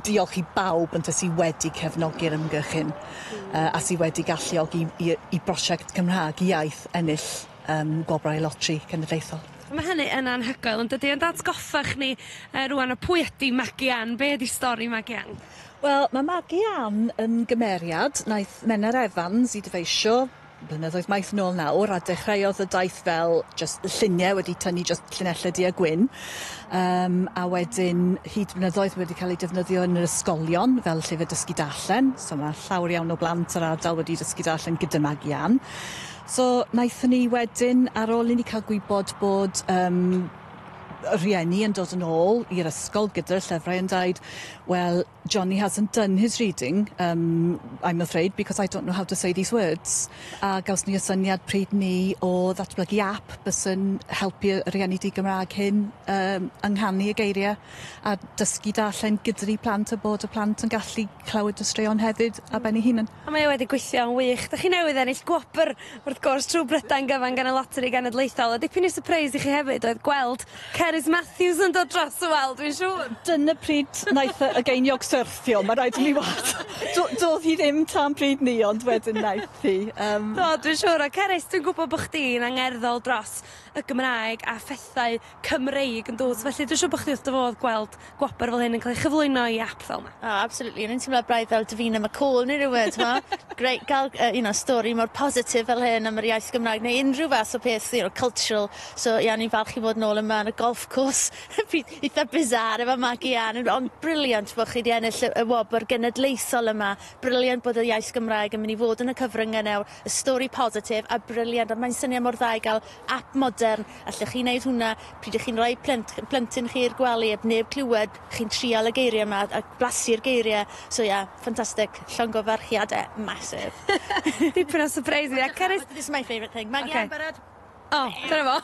diolch i bawb ynte sydd wedi cefnogi'r ymgyrch hyn uh, a sydd wedi galluogi i, i brosiect Cymraeg iaith ennill um, gwobrau lotri cenedlaethol. Mae hynny yn anhygoel yn dydy, ond atgoffach ni uh, rwan o pwy ydy Maggie Ann, be ydy stori Maggie Ann? Wel, mae Maggie Ann yn gymeriad naeth Menna Evans i dyfeisio Blynyddoedd maith nôl nawr a dechreuodd y daith fel jyst lluniau wedi tynnu jyst llinellau du a gwyn um, a wedyn hyd blynyddoedd wedi cael ei defnyddio yn yr ysgolion fel llyfr dysgu darllen so mae llawer iawn o blant yr ardal wedi dysgu darllen gyda Mag Ian so wnaethon ni wedyn ar ôl i ni cael gwybod bod um, rhieni yn dod yn ôl i'r ysgol gyda'r llyfrau yn dweud, wel, Johnny hasn't done his reading, um, I'm afraid, because I don't know how to say these words. A gaws ni y syniad pryd ni o ddatblygu app bysyn helpu y rhieni di Gymraeg hyn um, ynghanu y geiriau a dysgu darllen gyda'r plant a bod y plant yn gallu clywed y straeon hefyd a ben ei hunan. A mae e wedi gweithio'n wych. Dych chi newydd ennill gwobr, wrth gwrs, trwy Brydain gyfan gan y Loteri Genedlaethol, a dipyn o sypreis i chi hefyd oedd gweld Cerys Matthews yn dod dros y wal, dwi'n siŵr! Dyna pryd wnaeth y geiniog syrthio, mae rhaid i mi wad. Do- doedd hi ddim tan pryd 'ny, ond wedyn wnaeth hi. Yym... Do, dwi'n siŵr. A Cerys, dwi'n gwybod bod chdi'n angerddol dros y Gymraeg a phethau Cymreig yn dwt felly dwi siŵr bo' chdi wrth dy fodd gweld gwobr fel hyn yn ca'l ei chyflwyno i ap fel 'ma. O absolutely o'n i'n timlo braidd fel Davina McCall ne' rywun t'mo? Grêt ga'l yy you know stori mor positif fel hyn am yr iaith Gymraeg neu unrhyw fath o peth you know cultural so ie o'n i'n falch i fod nôl yma yn y golf course pi- itha bizarre efo Maggie Ann on- ond brilliant bo' chi 'di ennill y y wobr genedlaethol yma brilliant bod y iaith Gymraeg yn myn' i fod yn y cyfrynge nawr y stori positif a brilliant a mae'n syniad mor dda i ga'l ap modern, allech chi wneud hwnna pryd ych chi'n rhoi plent, plentyn chi i'r gwely, heb neb clywed, chi'n trial y geiriau yma a blasu'r geiriau, so ia, yeah, ffantastig, llongyfarchiadau massive. Dipyn o surprise fi, a Cerys... This is my favourite thing. Maggie okay. barod? O, oh, dyna fo.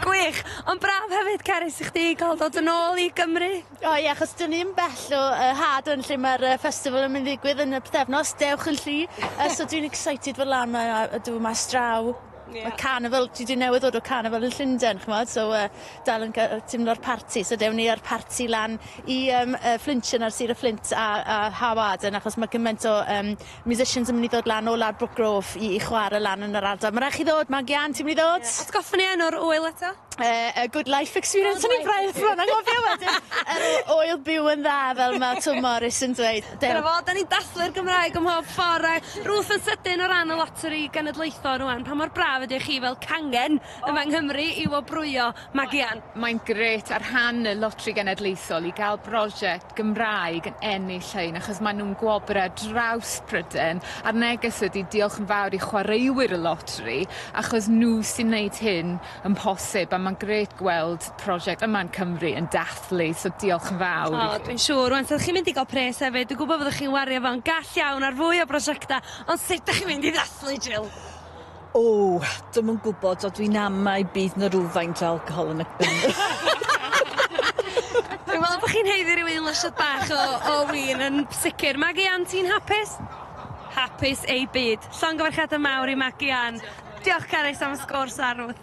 Gwych! Ond braf hefyd, Cerys, i chdi cael dod yn ôl i Gymru. O ie achos 'dyn ni 'im bell o yy Haadwyn lle ma'r yy festival yn myn' ddigwydd yn y pythefnos Dewch yn Lly yy so dwi'n excited fod lan 'ma a a dw mas draw. Ie. Ma' carnival dwi 'di newydd ddod o carnival yn Llunden ch'mod so yy dal yn ca- yy timlo'r parti so dewn ni â'r parti lan i yym yy Flintshire ar Sir y Fflint a a Hawarden achos ma' gyment o yym musicians yn mynd i ddod lan o lawr Brookgrove i i chware lan yn yr ardal. Ma' rai' chi ddod, ma'n gian, ti'n mynd i ddod? Ie, atgoffa ni enw'r ŵyl eto? Yy y good life experience o'n i'n braidd bron anghofio wedyn yr o- ŵyl byw yn dda fel ma' Twm Morys yn dweud. Dew. Dyna fo, 'dan ni'n dathlu'r Gymraeg ym mhob ffor a Ruth yn sydyn o ran y loteri genedlaethol rŵan, pa mor braf ydi i chi fel cangen yma yng Nghymru i wobrwyo Magian? Mae'n grêt ar rhan y Loteri Genedlaethol i ga'l brosiect Gymraeg yn ennill hyn achos maen nhw'n gwobrau ar draws Prydain a'r neges ydy diolch yn fawr i chwaraewyr y loteri achos nhw sy'n wneud hyn yn posib a mae'n grêt gweld prosiect yma yn Cymru yn dathlu so diolch yn fawr i chi. O, dwi'n siŵr. Rwan, fyddwch chi'n mynd i gael pres hefyd. Dwi'n gwybod fyddwch chi'n wario fo'n gall iawn ar fwy o brosiectau, ond sut dych chi'n mynd i ddathlu, Jill? O, dwi'm yn gwybod, so dwi'n amau bydd 'na rywfaint o alcohol yn y yn y... Dwi'n meddwl bod chi'n haeddu rhyw un lasiad bach o o win yn sicr. Magi Ann, ti'n hapus? Hapus ei byd. Llongyfarchiadau mawr i Magi Ann. Diolch Carys am y sgôr sarwth.